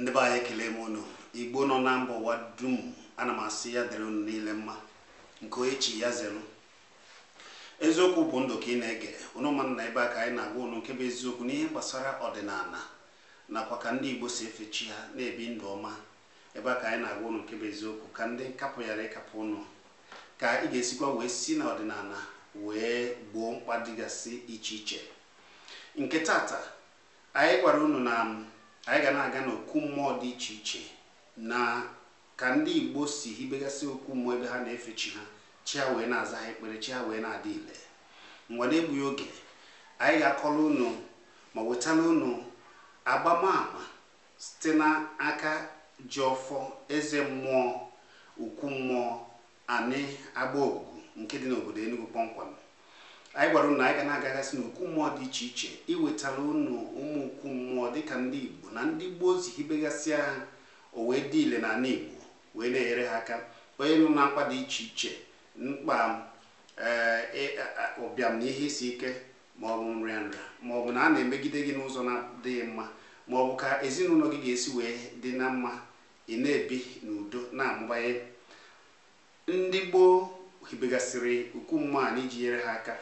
ndị be anyị ekele m unu igbo nọ na mba ụwa dum ana m asị ya dịrị unu niile mma nke onye chi ya zelu eziokwu bụ ndụ ka ị na-ege unu ma na ebe a ka anyị na-agwa unu nke bụ eziokwu n'ihe gbasara ọdịnala nakwa ka ndị igbo si efe chi ha na-ebi ndụ ọma ebe a ka anyị na-agwa unu nke bụ eziokwu ka ndị nkapụ ghara ịkapụ unu ka ị ga-esikwa wee si na ọdịnala wee gboo mkpa dịgasị iche iche nke tata Anyị gwara unu na anyị ga na-aga n'okwu mmụọ dị iche iche na ka ndị Igbo si hibegasị okwu mmụọ ebe ha na-efe chi ha, chi ha wee na-aza ha ekpere, chi ha wee na-adị ile. Ngwa n'egbughị oge, anyị ga-akọrọ unu ma wetara unu agbamaama site n'aka ji ọfọ, eze mmụọ, okwu mmụọ, Anị Agbaogugu nke dị n'obodo Enugu kpọmkwem. Anyị gwara unu na anyị ga na-agagasị n'okwu mmụọ dị iche iche iwetara unu ụmụ okwu mmụọ dịka ndị Igbo na ndị gboo si hibegasịa ha o wee dị ile n'ala Igbo wee na-enyere ha aka onye nọ na mkpa dị iche iche mkpa ee ị- a- a- ụbịam na ihe isi ike ma ọ bụ nrịa nrịa ma ọ bụ na a na-emegide gị n'ụzọ na-adịghị mma ma ọ bụ ka ezinụlọ gị ga-esi wee dị na mma ị na-ebi n'udo na-amụbanye. Ndị gboo hibegasịrị okwu mmụọ a n'iji nyere ha aka.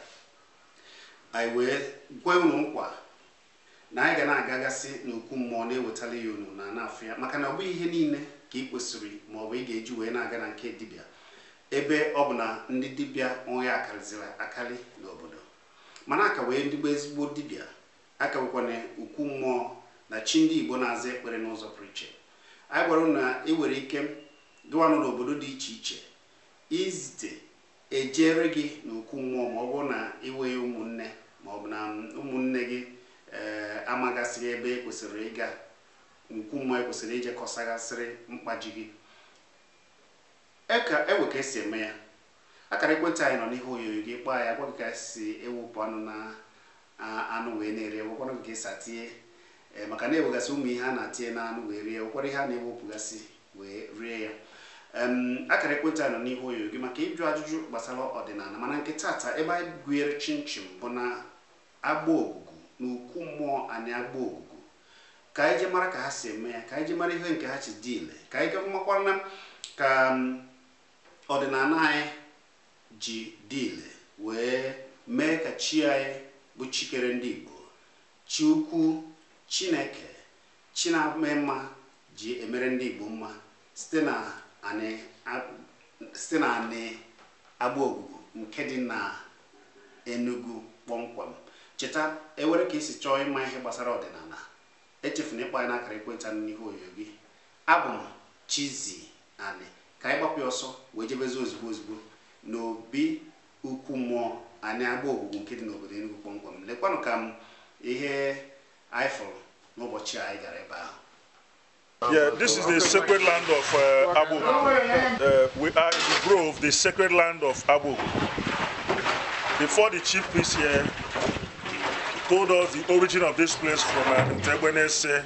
Anyị wee kwe unu nkwa na anyị ga na-agagasị n'okwu mmụọ na-ewetara ya unu na na-afụ ya maka na ọ bụghị ihe niile ka ị kwesịrị ma ọ bụ ị ga-eji wee na-aga na nke dibịa ebe ọ bụ na ndị dibịa onwe ya akarịziri akarị n'obodo mana a ka nwee ndị bụ ezigbo dibịa A ka nwekwanụ okwu mmụọ na chi ndị Igbo na-aza ekpere n'ụzọ pụrụ iche. Anyị gwara unu na ị nwere ike gịwa nọ n'obodo dị iche iche izite e jeere gị na okwu mmụọ ma ọ bụrụ na ị nweghị ụmụnne ma ọ bụ na ụmụnne gị ee amagasịghị ebe e kwesịrị ịga okwu mmụọ e kwesịrị ije kọsagasịrị mkpa ji gị. E nwee ka esi eme ya. Akara ekwentị anyị nọ n'ihe onyonyo gị kpọọ ya a gwa gị ka si ewepụ anụ na anụ wee na-eri e nwekwanụ gị ka esi atinye ee maka na e nwegasị ụmụ ihe a na-atinye na anụ wee rie nwekwara ihe a na-ewepụgasị wee rie ya akara ekwentị a nọ n'ihu onyonyo gị maka ịjụ ajụjụ gbasara ọdịnala mana nke tata ebe anyị gụnyere chinchin bụ na Agbaogugu na okwu mmụọ Anị Agbaogugu ka anyị je mara ka ha si eme ya ka anyị je mara ihe nke ha ji dị ile ka anyị ga makwara na ka Ọdịnala anyị ji dị ile wee mee ka chi anyị bụ chi kere ndị Igbo, chi ukwu, Chineke, chi na-eme mma ji emere ndị Igbo mma site na Anị Agbaogugu nke dị na Enugu kpọmkwem. Cheta, ewere ka i si chọọ ịma ihe gbasara ọdịnala, echefuna ịkpọ anyị n'akara ekwentị a nọ n'ihu onyonyo gị. Abụ m Chizzy Anị ka anyị gbapụ ọsọ wee jebezi ozugbo ozugbo n'obi ukwu mmụọ Anị Agbaogugu nke dị n'obodo Enugu kpọmkwem lekwanụ ka m ihe anyị fụrụ n'ụbọchị anyị gara ebe ahụ Yeah, this is the sacred land of uh, Abu. Uh, we are in the grove, the sacred land of Abu. Before the chief priest here told us the origin of this place from uh, Ntegbenese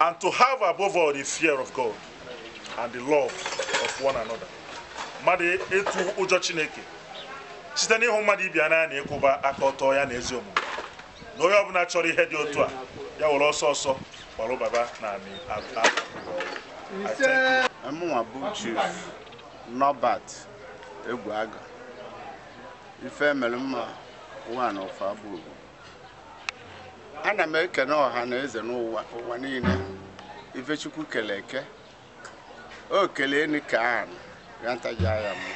and to have above all the fear of God and the love of one another mmadụ ịtụ ụjọ chineke site n'ịhụ mmadụ ibe ya n'anya na ịkwụba aka ọtọ ya na ezi omume na onye ọbụla chọrọ ihe dị otu a ya were ọsọ ọsọ gbara baba na anị mụnwa bụ chief Norbert Egwuaga ife mere mma one of Agbaogugu ana m ekene ọha na eze n'ụwa niile ife Chukwu kele eke o kele enu kee anị ya ntaji ya mụ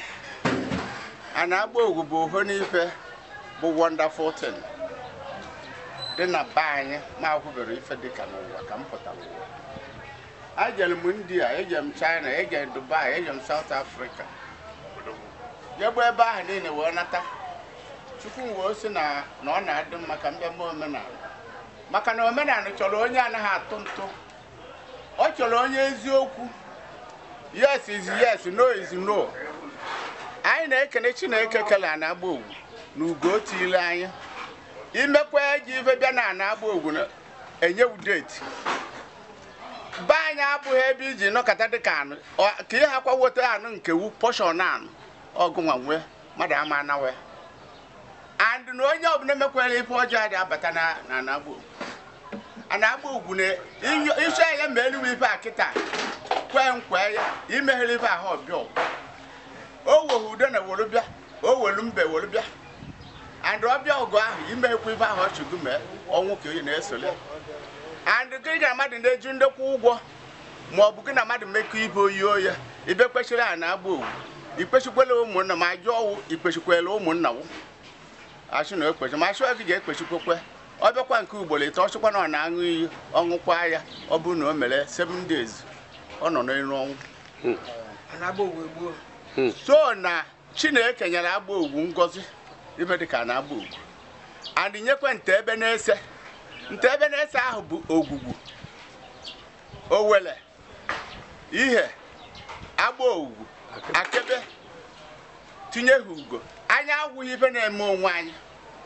a Anị Agbaogugu bụ oho n'ife bụ wonderful thing dị na be anyị mụ ahụbere ife dịka n'ụwa ka m pụtara ụwa ejere m india eje m china eje m dubai eje m south africa jegbu ebe ahụ niile wee nata chukwu m wee sị na ọ na-adị mma ka m bịa mee omenala maka na omenala chọrọ onye anaghị atụ ntụ ọ chọrọ onye eziokwu yes is yes no is no anyị na-ekene chineke kele Anị Agbaogugu na ugo o tiile anyị imekwa ji ife bịa na Anị Agbaogugu na enyewu deity be anyị abụghị ebe iji nọkọta dịka anụ ọ- ka ihe akwa weta anụ nke wu portion anụ ọgụnwa nwee mmadụ ama anawe and na onye ọbụla mekwere ife ọjọọ adị abata na na Anị Agbo Anị Agbaogugu na inyo- iche ya ma eluwe ife a kịta kwee nkwe ya imeghere ife ahụ ọ bịa ọgwụ. o wehu udo na wolu bịa o welu mbe wolu bịa and ọ bịa ọgụ ahụ imekwa ife ahụ ọchụgụ mee ọnwụ ka onye na-esole and gị na mmadụ na-eji ndekwa ụgwọ ma ọ bụ gị na mmadụ mekọ ibe oyi oya ibe kpechiri ana agbaogugu ikpechikwela ụmụnna ma ajụ ọwụ ikpechikwela ụmụnna wụ a sị na ekpechi ma a sị ọ gị ga-ekpechikwekwe ọ bịakwa nke ugboro ịtọ ọ sịkwa na ọ na-aṅụ iyi ọ ṅụkwa ya ọ bụrụ na o mere seven days ọ nọ n'elu ọ nwụọ so na chineke nyere agbaogugu ngọzi ife dị ka ana agbaogugu and nyekwa ntegbe nese ntegbe nese ahụ bụ ogwugwu owele ihe agbaogugu akegbe tinye ha ugo anyị agwụghị ife na-eme onwe anyị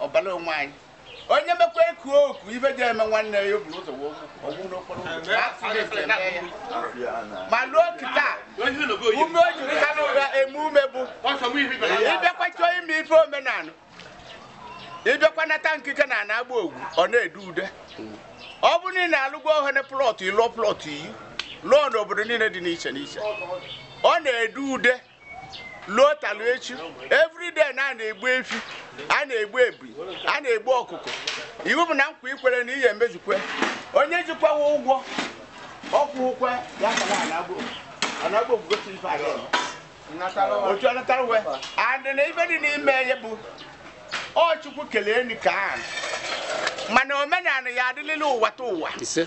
ọbara onwe anyị onye mekwa eku oku ife ji eme nwanne ya o buru ụzọ wee ọgwụ n'okporo ụzọ accident eme ya ma ruo kịta ume o jiri ha n'ụra eme ume bụ ị bịakwa chọọ ime ife omenala ị bịakwa nata ikike na ana agbaogugu ọ na-edu ude ọ bụ na ị na-alụgo ohene plọt ị lụọ plọt iyi lụọ n'obodo niile dị n'iche n'iche ọ na-edu ude luo taa luo echi everyday na a na-egbu efi a na-egbu ebi a na-egbu ọkụkọ iwu bụ na nkwa i kwere na ihe emezukwe onye jikwawa ụgwọ ọ kwụ ụgwọ ya ka na ana agbo ana agbaogugu gosi ife a ga-eme. otu ọ natara uwe and na ife dị n'ime ya bụ ọ chukwu kelee ni ka a mana omenala ya adịlịla ụwa ta ụwa ise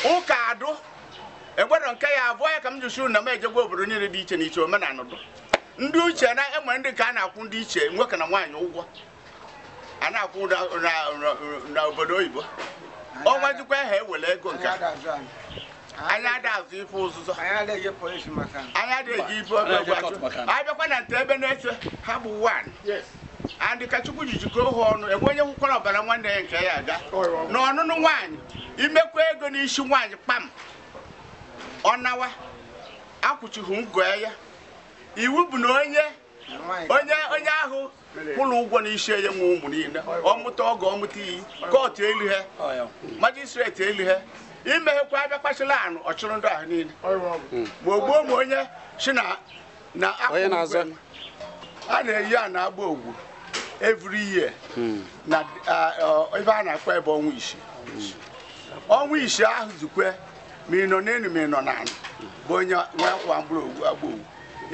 ụka adụ enwero nke ya abụọ ya ka m ji sị na m ejegwa obodo niile dị iche n'iche omenala dụ ndị uche na enwere ndị nke a na-akwụ ndị iche nwoke na nwaanyị ụgwọ a na-akwụ na- na- na- na obodo oyibo ọnwa jikwa ha e were ego nke a. anyị ada azọ ife ụzụzọ anyị adịghị polisi maka anyị adịghị ife ọgụ Anyị adịghị achọ. kọt maka na. anyị bịakwa na ntegbe nese ha bụ one and ka chukwu ji jikọọ ha ọnụ enwe onye hụkwara ọbara nwanne ya nke ya aga na ọnụnụ nwaanyị i mekwa ego n'isi nwaanyị kpam ọ nawa akwụchighị ngo ya iwu bụ na onye onye onye ahụ kwụrụ ụgwọ n'isi ya nwe ụmụ niile ọ mụta ọgọ ọ mụta iyi kọtụ elu ha majistreti elu ha imeghekwa abịa kpachila anụ ọ chịrị ndị ahụ niile ma o gbuo ma onye si na na onye na-azọ a na-eyi ana agbaogugu every year hmm. na ebe a na-akpọ ebe ọnwa isii ọnwa isii ahụ zukwe ma ị nọ n'elu ma ị nọ n'ala bụ onye nwa akwa mkpụrụ ogwu agbaogugu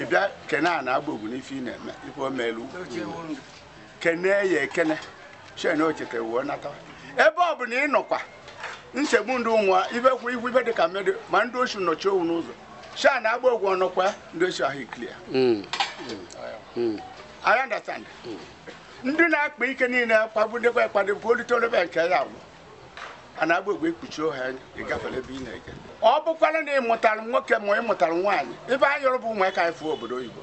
ị bịa kene ana agbaogugu n'ife ị na-eme ife o meelu kene ya ekene chen ochete wuo nata ebe ọ bụla ị nọkwa nsogbu ndị ụmụa ibe kwụ ihu ibe dị ka mmadụ ma ndị osu nọchi owu n'ụzọ sha na agba ọgwụ ọnọkwa ndị osu ahụ clear Mm. Mm. I understand. ndị na-akpa ike niile kpagbudebe akpado bụ olite olebe nke ya agwụ a na-agba ọgwụ ekpuchi ohe anya ị gafere ebe ị na-eje ọ bụkwara na ị mụtara nwoke ma ị mụtara nwaanyị ibe anyị yọrọ bụ ụmụaka anyị fụọ obodo oyibo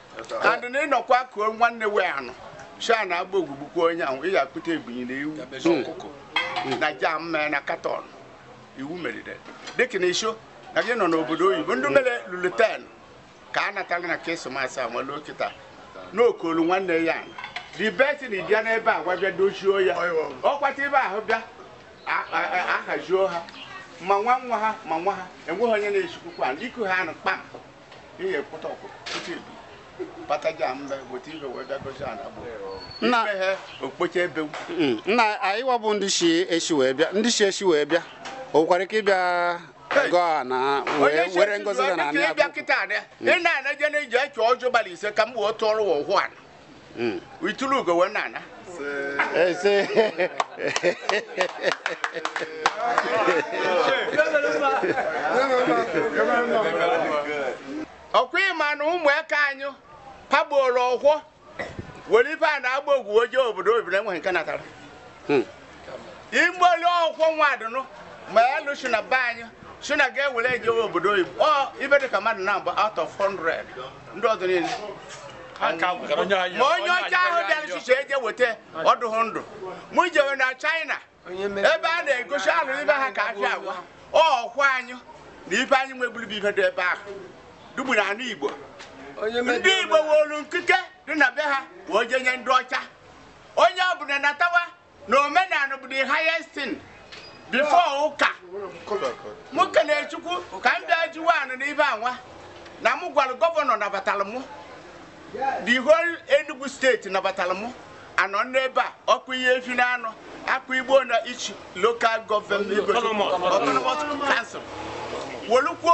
and na ịnọkwa kuo nwanne wee anụ sha na agba ọgwụ gbuo onye ahụ ị ga-akpụta ebinyi na ewu ọkụkọ na jam mee na katọn iwu merire dịka na isho na gị nọ n'obodo oyibo ndị mere lulu ten ka a natala na krismas a nwere kịta n'okolu nwanne ya the best na ịbịa n'ebe a gwa bịa dochie ya ọkwata ibe ahụ bịa ahajuo ha ma nwa nwa ha ma nwa ha enweghị onye na-echikwukwa iku ha ọnụ kpam ihe ekwụta ọkụ pụta ibu pataja mbe weta ibe wee bịa gozi ana bụ Nna ihe okpocha ebe mm, nna anyị wabụ ndị si esi wee bịa ndị si esi wee bịa o nwekwara ike ịbịa gọọ ana wee were ngozi ga na anị abụ ị na-anaje na ije chọọ ọjọ gbalị ise ka m wee tụọrọ ụwa ụhụ ana hmm. i tulu ugo wee na-ana ese ọkwa ị ma na ụmụaka anyị pagboro ọkwọ were ife a na-agba ọgwụ eje obodo oyibo enweghị nke natara hmm. igbolu ọkwọ nwadụnụ ma ya lụsi na be anyị si na ga-ewere ejewe obodo oyibo ọ ibe dịka mmadụ naabọ out of 100 ndị ọzọ niile ma onye ọcha ahụ bịara chiche eje weta ọ dụhụ ndụ mụ jewe na china ebe a na-egosi alụ ibe ha ka afịa agwa ọkwa anyị na ibe anyị nweburu bụ ibe dị ebe ahụ dugbu na ana igbo ndị igbo wolu nkike dị na be ha wee je nye ndị ọcha onye ọbụla natawa na omenala bụ the highest thing before ụka mụ kelee chukwu ka m bịa jiwa ọnụ n'ibe anwa na mụ gwara gọvanọ nabatara mụ the whole Enugu steeti nabatara mụ a nọ n'ebe a ọkụ ihe efi na anọ akụ igbo na each local government autonomous council wolukwuo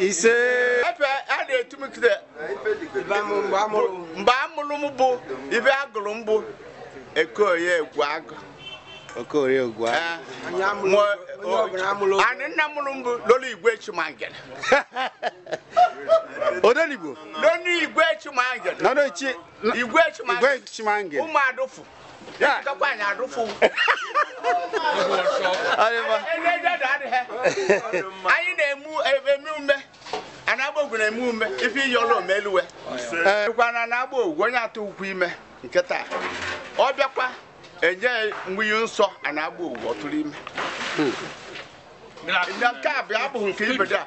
ise ebe a na-etu m kide mgbe a mụrụ m bụ ibe a gụrụ m bụ ekoye egwu agụ okorie egwu agụ anị nna mụrụ m bụ lọlọ igwe chimangere odenigbo lọlọ igwe chimangere igwe chimangere ụmụ adụfụ anyị na-eme ume ana Agbaogugu na-eme ume ife iyi ọla omeluwe kwa ana Agbaogugu onye atụ ukwu ime nke taa ọ bịakwa enye mebie nsọ ana Agbaogugu ọ tụrụ ime nke a bụ abụghị nke ibedo a